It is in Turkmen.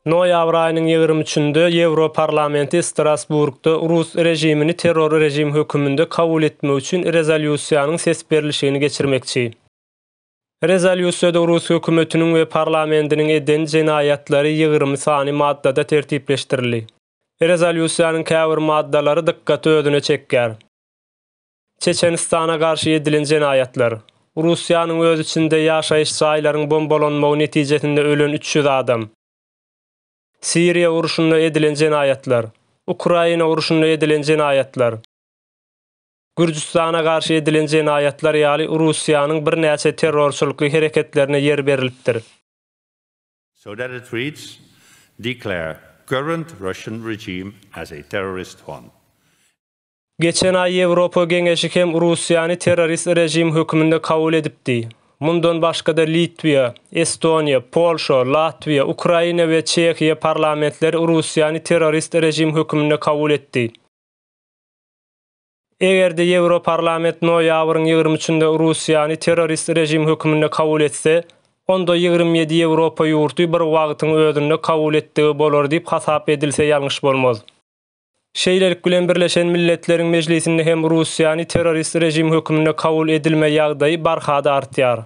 Noýabr aýynyň ýigrimi üçünde Ýewroparlamenti Strasburgda rus režimini terror režim höküminde kabul etmek üçin rezolýusiýanyň ses berlişigini geçirmekçi. Rezolýusiýada rus hökümetiniň we parlamentiniň eden jenaýatlary ýigrimi sany maddada tertipleşdirildi. Rezolýusiýanyň käbir maddalary dykgaty özüne çekýär. Çeçenistana garşy edilen jenaýatlar. Russiýanyň öz içinde ýaşaýyş jaýlaryň bombalanmagy netijesinde ölen üç ýüz adam. Siriýa urşunda edilen jenaýatlar. Ukraina urşunda edilen jenaýatlar. Gürjüstana garşy edilen jenaýatlar ýaly Russiýanyň birnäçe terrorçylykly hereketlerine ýer berilipdir. So that it reads, Declare current Russian regime as a terrorist one. Geçen aý Ýewropa Geňeşi hem Russiýany terrorist režim hökmünde kabul edipdi. Mundan başga-da Litwiýa, Estoniýa, Polşa, Latwiýa, Ukraina we Çehiýa parlamentleri Russiýany terrorist režim hökmünde kabul etdi. Eger-de Ýewroparlament noýabryň ýigrimi üçünde Russiýany terrorist režim hökmünde kabul etse, onda ýigrimi ýedi Ýewropa ýurty bir wagtyň özünde kabul etdigi bolar diýip hasap edilse ýalňyş bolmaz. Şeýlelik bilen Birleşen Milletleriň Mejlisinde hem Russiýany terrorist režim hökmünde kabul edilme ýagdaýy barha-da artýar.